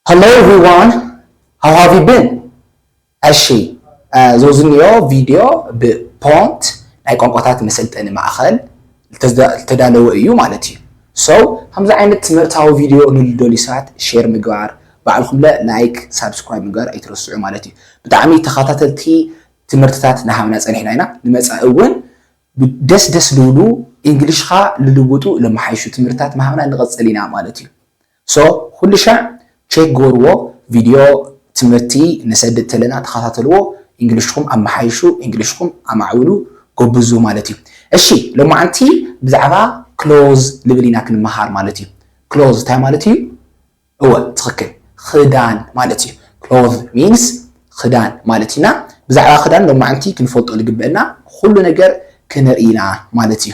Hello everyone how have you been እሺ ዞዝኒዮ ቪድዮ ብ Pont ናይ ቋንቋታት መሰልጠኒ ማእኸል ልተዳለወ እዩ ማለት እዩ so ከምዚ ዓይነት ትምህርታዊ ቪድዮ ንልደልዩ ሰባት share ምግባር ባዕልኹም ለ like subscribe ምግባር ኣይትረስዑ ማለት እዩ ብጣዕሚ ተኸታተልቲ ትምህርትታት ናሃብና ፀኒሕና ኢና ንመፃኢ እውን ደስ ደስ ልብሉ ኢንግሊሽኻ ልልውጡ ለመሓይሹ ትምህርትታት ምሃብና ንቐፅል ኢና ማለት እዩ So ኩሉሻዕ ቼክ ግበርዎ ቪድዮ ትምህርቲ ነሰድድ ተለና ተኸታተልዎ ኢንግሊሽኩም ኣመሓይሹ ኢንግሊሽኩም ኣማዕብሉ ጎብዙ ማለት እዩ እሺ ሎማዓንቲ ብዛዕባ ክሎዝ ልብል ኢና ክንመሃር ማለት እዩ ክሎዝ እንታይ ማለት እዩ እወ ትኽክል ኽዳን ማለት እዩ ክሎዝ ሚንስ ኽዳን ማለት ኢና ብዛዕባ ኽዳን ሎማዓንቲ ክንፈልጦ ልግበእና ኩሉ ነገር ክንርኢ ኢና ማለት እዩ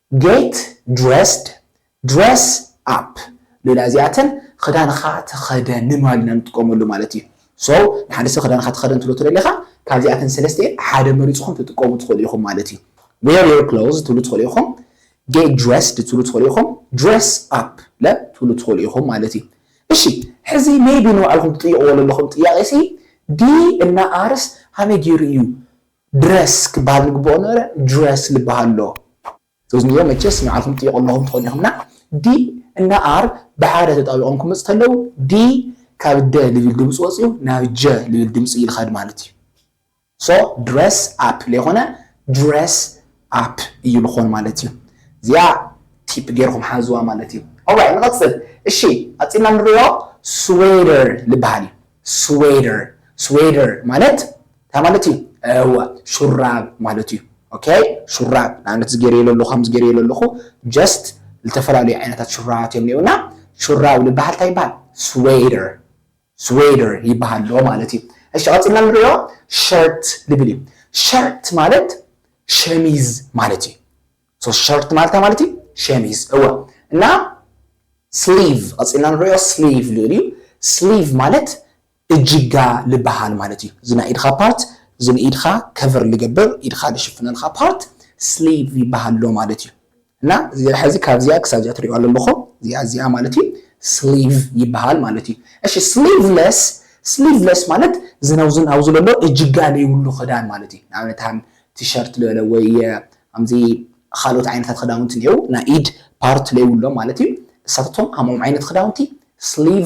Get dressed Dress up ሌላ እዚኣተን ኽዳንኻ ተኸደን ንማል ኢና ንጥቀመሉ ማለት እዩ so ንሓደ ሰብ ኽዳንኻ ተኸደን ትብሎ ተደሊኻ ካብዚኣተን ሰለስቲኤን ሓደ መሪፅኹም ትጥቀሙ ትኽእሉ ኢኹም ማለት እዩ Wear your clothes ትብሉ ትኽእሉ ኢኹም Get dressed ትብሉ ትኽእሉ ኢኹም Dress up ለ ትብሉ ትኽእሉ ኢኹም ማለት እዩ እሺ ሕዚ maybe ንባዕልኹም ትጥይቕዎ ዘለኹም ጥያቄ ሲ ዲ እና ኣርስ ሃመይ ገይሩ እዩ ድረስ ክበሃል ንግበኦ ነበረ ጁረስ ልበሃል ኣሎ እዝንዮ መቸስ ንዓኹም ትጥይቁ ኣለኹም ትኾኑ ኢኹም እና ዲ እና ኣር ብሓደ ተጣቢቆም ክመጹ ተለው ዲ ካብ ደ ልብል ድምጺ ወጽዩ ናብ ጀ ልብል ድምጺ ልኸድ ማለት እዩ ሶ ድረስ ኣፕ ለይኾነ ጁረስ ኣፕ እዩ ልኾን ማለት እዩ እዚኣ ቲፕ ገይርኹም ሓዝዋ ማለት እዩ ኦራይ ንቐጽል እሺ ቀጺልና ንሪኦ ስዌደር ልበሃል እዩ ስዌደር ስዌደር ማለት እንታይ ማለት እዩ እወ ሹራብ ማለት እዩ ኦኬ ሹራብ ንኣብነት እዚ ገይረዮ ለለኹ ከምዚ ገይረዮ ለለኹ ጀስት ዝተፈላለዩ ዓይነታት ሹራባት እዮም እኒኦና ሹራብ ልበሃል እንታይ ይበሃል ስዌደር ስዌደር ይበሃል ኣሎ ማለት እዩ እሺ ቀፅልና ንሪኦ ሸርት ልብል እዩ ሸርት ማለት ሸሚዝ ማለት እዩ ሶ ሸርት ማለት እንታይ ማለት እዩ ሸሚዝ እወ እና ስሊቭ ቀፂልና ንሪኦ ስሊቭ ልብል እዩ ስሊቭ ማለት እጅጋ ልባሃል ማለት እዩ እዚ ናይ ኢድኻ ፓርት እዚ ንኢድኻ ከቨር ልገብር ኢድኻ ልሽፍነልኻ ፓርት ስሊቭ ይባሃል ኣሎ ማለት እዩ እና እዚ ሐዚ ካብዚኣ ክሳብ እዚኣ ትሪእዋ ለለኹም እዚኣ እዚኣ ማለት እዩ ስሊቭ ይባሃል ማለት እዩ እሺ ስሊቭለስ ስሊቭለስ ማለት እዚ ናብዚ ኣብዚ ለሎ እጅጋ ለይብሉ ኽዳን ማለት እዩ ንኣብነት ሃም ቲሸርት ልበለ ወይ ሃምዚ ኻልኦት ዓይነታት ኽዳውንቲ እኒኤው ናይ ኢድ ፓርት ለይብሎም ማለት እዩ እሳታቶም ሃምኦም ዓይነት ኽዳውንቲ ስሊቭ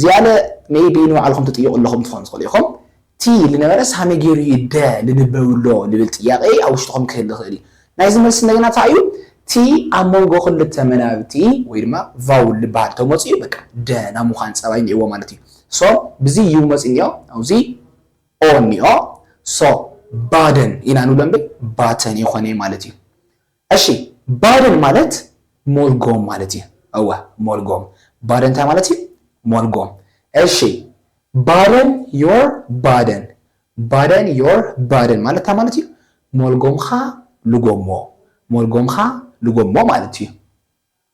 ዝያለ maybe ንባዕልኹም ትጥይቑ ኣለኹም ትኾኑ ትኽእሉ ኢኹም። እቲ ልነበረስ ሃመይ ገይሩ እዩ ደ ልንበብሎ ልብል ጥያቄ ኣብ ውሽጥኹም ክህሊ ይኽእል እዩ። ናይዚ መልሲ እንደገና ታይ እዩ? እቲ ኣብ መንጎ ክልተ መናብብቲ ወይ ድማ vowel ልበሃል ተመፅዩ በቃ ደ ናይ ምዃን ፀባይ እኒኦዎ ማለት እዩ። so ብዚ ዩ መፅዩ እኒኦ ኣብዚ o እኒኦ so ባደን ኢና ንብሎ እምብር ባተን የኾነይ ማለት እዩ። እሺ ባደን ማለት ሞልጎም ማለት እዩ እወ ሞልጎም ባደን እንታይ ማለት እዩ ሞልጎም እሺ ባደን ዮር ባደን ባደን ዮር ባደን ማለት እንታይ ማለት እዩ ሞልጎምኻ ልጎሞ ሞልጎምኻ ልጎሞ ማለት እዩ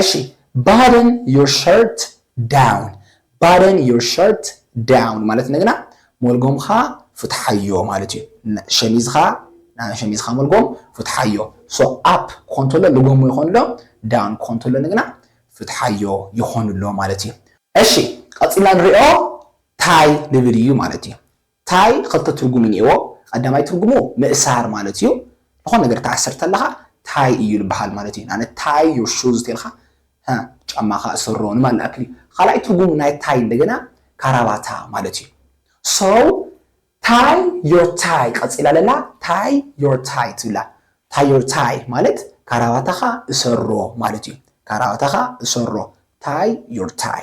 እሺ ባደን ዮር ሸርት ዳውን ባደን ዮር ሸርት ዳውን ማለት እንደገና ሞልጎምኻ ፍትሓዮ ማለት እዩ ሸሚዝኻ ናይ ሸሚዝኻ ሞልጎም ፍትሓዮ ሶ ኣፕ ኮንቶሎ ልጎሞ ይኾንሎ ዳውን ኮንቶሎ እንደገና ፍትሓዮ ይኾንሎ ማለት እዩ እሺ ቀፂልና ንሪኦ ታይ ልብል እዩ ማለት እዩ ታይ ኽልተ ትርጉም እኒኤዎ ቐዳማይ ትርጉሙ ምእሳር ማለት እዩ ልኾነ ነገር ትኣስር ተለኻ ታይ እዩ ልበሃል ማለት እዩ ንኣብነት ታይ ዮር ሹዝ ተልካ ሀ ጫማኻ እሰሮ ንማለት ልኣክል እዩ ኻልኣይ ትርጉሙ ናይ ታይ እንደገና ካራባታ ማለት እዩ so ታይ ዮር ታይ ቐፂላ ለላ ታይ ዮር ታይ ትብላ ታይ ዮር ታይ ማለት ካራባታኻ እሰሮ ማለት እዩ ካራባታኻ እሰሮ ታይ ዮር ታይ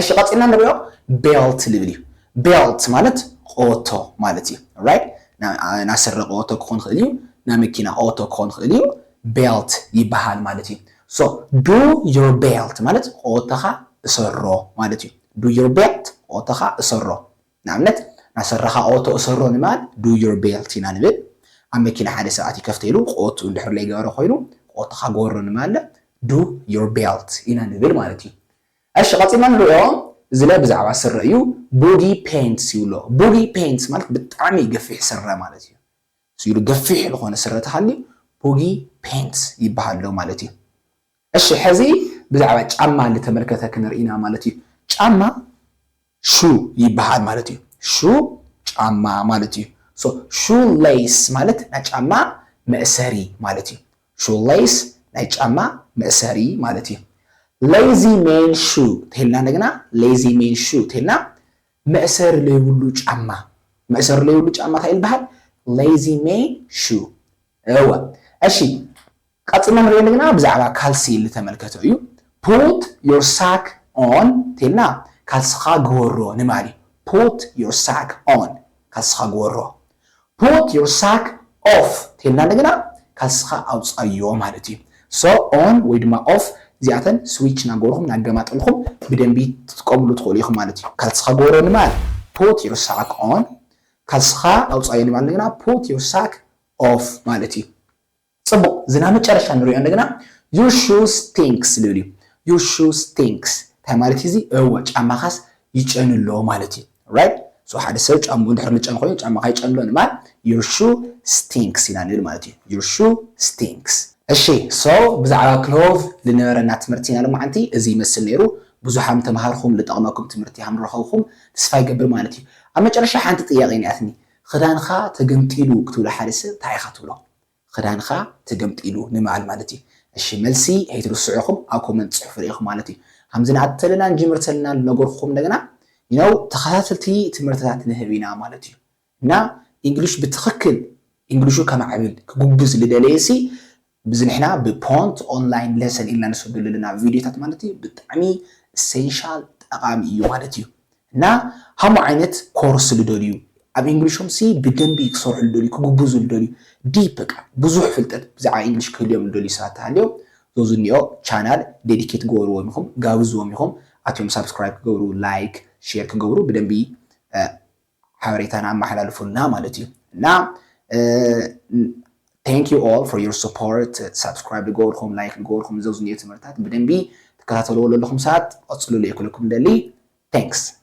እሺ ቀጺልና ንሪኦ ቤልት ልብል እዩ ቤልት ማለት ኦቶ ማለት እዩ ራይት ናይ ስረ ኦቶ ክኾን ይኽእል እዩ ናይ መኪና ኦቶ ክኾን ይኽእል እዩ ቤልት ይበሃል ማለት እዩ ሶ ዱ ዮር ቤልት ማለት ኦቶኻ እሰሮ ማለት እዩ ዱ ዮር ቤልት ኦቶኻ እሰሮ ንኣብነት ናይ ስረኻ ኦቶ እሰሮ ንማል ዱ ዮር ቤልት ኢና ንብል ኣብ መኪና ሓደ ሰብኣት ይከፍተ ኢሉ ኦቱ እንድሕር ለይገበረ ኮይኑ ኦቶኻ ጎሮ ንማለ ዱ ዮር ቤልት ኢና ንብል ማለት እዩ እሺ ቀጺልና ንርእዮ ዝለ ብዛዕባ ስረ እዩ ቡጊ ፔንትስ ይብሎ ቡጊ ፔንትስ ማለት ብጣዕሚ ገፊሕ ስረ ማለት እዩ ስኢሉ ገፊሕ ልኾነ ስረ ተሃልዩ ቡጊ ፔንትስ ይበሃል ኣሎ ማለት እዩ እሺ ሐዚ ብዛዕባ ጫማ ልተመልከተ ክንርኢና ማለት እዩ ጫማ ሹ ይበሃል ማለት እዩ ሹ ጫማ ማለት እዩ so shoe lace ማለት ናይ ጫማ መእሰሪ ማለት እዩ shoe lace ናይ ጫማ መእሰሪ ማለት እዩ lazy men shoe ተልና እንደገና lazy men shoe ተልና መእሰሪ ለይብሉ ጫማ መእሰሪ ለይብሉ ጫማ እንታይ ይበሃል lazy men shoe እወ እሺ ቀጺልና ንሪኦ እንደገና ብዛዕባ ካልሲ ልተመልከቶ እዩ put your sack on ተልና ካልስኻ ግበሮ ንባል እዩ put your sack on ካልስኻ ግበሮ put your sack off ተልና እንደገና ካልስኻ ኣውጻዮ ማለት እዩ so on ወይ ድማ off እዚኣተን ስዊች ናገበርኹም ናገማጠልኹም ብደንቢ ትጥቀምሉ ትኽእሉ ኢኹም ማለት እዩ ካልስኻ ግበሮ ንባል put your sack on ካልስኻ ኣውጻዮ ንባል እንደገና put your sack of ማለት እዩ ጽቡቅ እዚ ናብ መጨረሻ ንሪኦ እንደገና your shoes stinks ልብል እዩ your shoes stinks እንታይ ማለት እዩ እዚ እወ ጫማኻስ ይጨኑ ኣሎ ማለት እዩ right so ሓደ ሰብ ጫምኡ ድሕር ምጨኑ ኮይኑ ጫማኻ ይጨኑ ኣሎ ንማል your shoe stinks ኢና ንብል ማለት እዩ your shoe stinks እሺ so ብዛዕባ ክሎቭ ዝነበረና ትምህርቲ ናይ ሎማዓንቲ እዚ ይመስል ነይሩ ብዙሕ ሃም ተማሃርኹም ዝጠቕመኩም ትምህርቲ ሃም ረኸብኹም ተስፋ ይገብር ማለት እዩ ኣብ መጨረሻ ሓንቲ ጥያቄ ኒኣትኒ ኽዳንኻ ተገምጢሉ ክትብሎ ሓደ ሰብ ታይ ኢኻ ትብሎ ኽዳንኻ ተገምጢሉ ንምባል ማለት እዩ እሺ መልሲ ከይትርስዑ ኢኹም ኣብ ኮመንት ፅሕፉለይ ኢኹም ማለት እዩ ኸምዚ ናተለና ንጅምር ተለና ልነገርኹም እንደገና ነው ተኸታተልቲ ትምህርትታት ንህብ ኢና ማለት እዩ እና ኢንግሊሽ ብትኽክል ኢንግሊሹ ከማዕብል ክጉብዝ ልደለየሲ ብዚ ንሕና ብ ፖንት ኦንላይን ለሰን ኢልና ንሰደሉ ኣለና ቪድዮታት ማለት እዩ ብጣዕሚ ኢሰንሻል ጠቃሚ እዩ ማለት እዩ እና ሃምኡ ዓይነት ኮርስ ልደልዩ ኣብ ኢንግሊሾም ሲ ብደንቢ ክሰርሑ ልደልዩ ክግብዙ ልደልዩ ዲፕ በቃ ብዙሕ ፍልጠት ብዛዕባ ኢንግሊሽ ክህልዮም ልደልዩ ሰባት ተሃልዮም ዞዚ ኒኦ ቻናል ዴዲኬት ግበርዎም ኢኹም ጋብዝዎም ኢኹም ኣትዮም ሳብስክራይብ ክገብሩ ላይክ ሼር ክገብሩ ብደንቢ ሓበሬታና ኣመሓላልፉልና ማለት እዩ እና ቴንክ ዩ ኦል ፎር ዩር ስፖርት ሳብስክራይብ ዝገበርኩም ላይክ ዝገበርኩም እዚ ዝኒኦ ትምህርታት ብደንቢ ትከታተልዎ ዘለኹም ሰባት ቐፅልሉ እየ ክብለኩም ደሊ ቴንክስ